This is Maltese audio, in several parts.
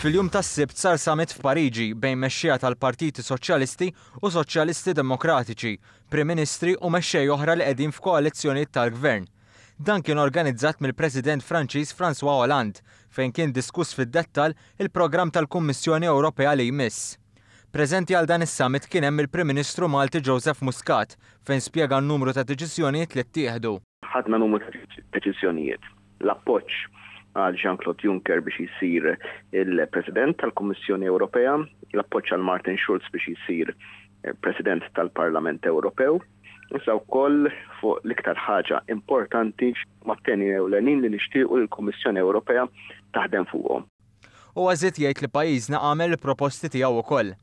Fil-jum tas-Sibt sar summit f'Pariġi bejn mexxejja tal-partiti Soċjalisti u Soċjalisti Demokratiċi, Prim Ministri u mexxej oħra li qegħdin f'koalizzjonijiet tal-gvern. Dan kien organizzat mill-President Franċiż Francois Hollande fejn kien diskuss fid-dettall il-programm tal-Kummissjoni Ewropea li jmiss. Preżenti għal dan is-summit kien hemm il-Prim Ministru Malti Joseph Muscat fejn spjega n-numru ta' deċiżjonijiet li ttieħdu. Ħadna numru ta' deċiżjonijiet. L-appoġġ għal Jean-Claude Juncker biex jsir il-President tal-Kummissjoni Ewropea, l-appoġġ għal Martin Schulz biex jsir President tal-Parlament Ewropew, iżda wkoll fuq l-iktar ħaġa importanti mat-teni ewlenin li nixtiequ li l-Kummissjoni Ewropea taħdem fuqhom. Huwa żied jgħid li pajjiżna għamel il-proposti tiegħu wkoll.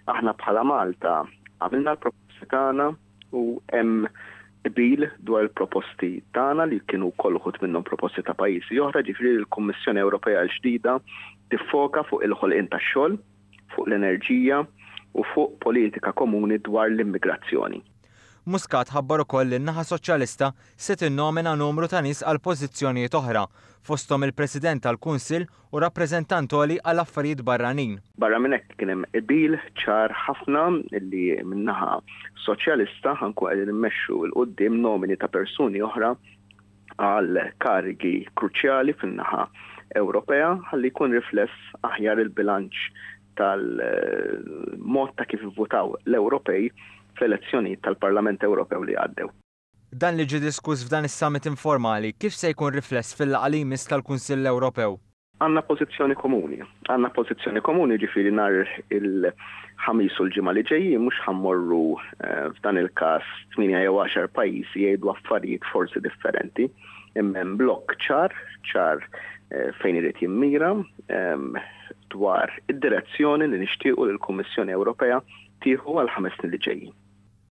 Aħna bħala Malta għamilna l-proposti tagħna u hemm qbil dwar il-proposti tagħna li kienu wkoll uħud minnhom proposti ta' pajjiżi oħra, ġifieri l-Kummissjoni Ewropea l-ġdida tiffoka fuq il-ħolqien tax-xogħol, fuq l-enerġija u fuq politika komuni dwar l-immigrazzjoni. Muscat ħabbar ukoll li n-naħa Soċjalista se tinnomina numru ta' nies għal pożizzjonijiet oħra, fosthom il-President tal-Kunsill u Rappreżentant Għoli għal Affarijiet Barranin. Barra minn hekk kien hemm qbil ċar ħafna li min-naħa Soċjalista ħa nkunu qegħdin immexxu 'l quddiem nomini ta' persuni oħra għal karigi kruċjali fin-naħa Ewropea ħalli jkun rifless aħjar il-bilanċ tal-mod ta' kif ivvutaw l-Ewropej fl-elezzjonijiet tal-Parlament Ewropew li għaddew. Dan li ġie diskuss f'dan is-summit informali kif se jkun rifless fil-laqgħa li jmiss tal-Kunsill Ewropew? Għandna pożizzjoni komuni. Għandna pożizzjoni komuni jiġifieri nhar il-Ħamis u l-ġimgħa li ġejjin mhux ħa mmorru f'dan il-każ tmienja jew għaxar pajjiżi jgħidu affarijiet forsi differenti imma hemm blokk ċar, ċar fejn irid jimmira dwar id-direzzjoni li nixtiequ li l-Kummissjoni Ewropea tieħu għall-ħames snin li ġejjin.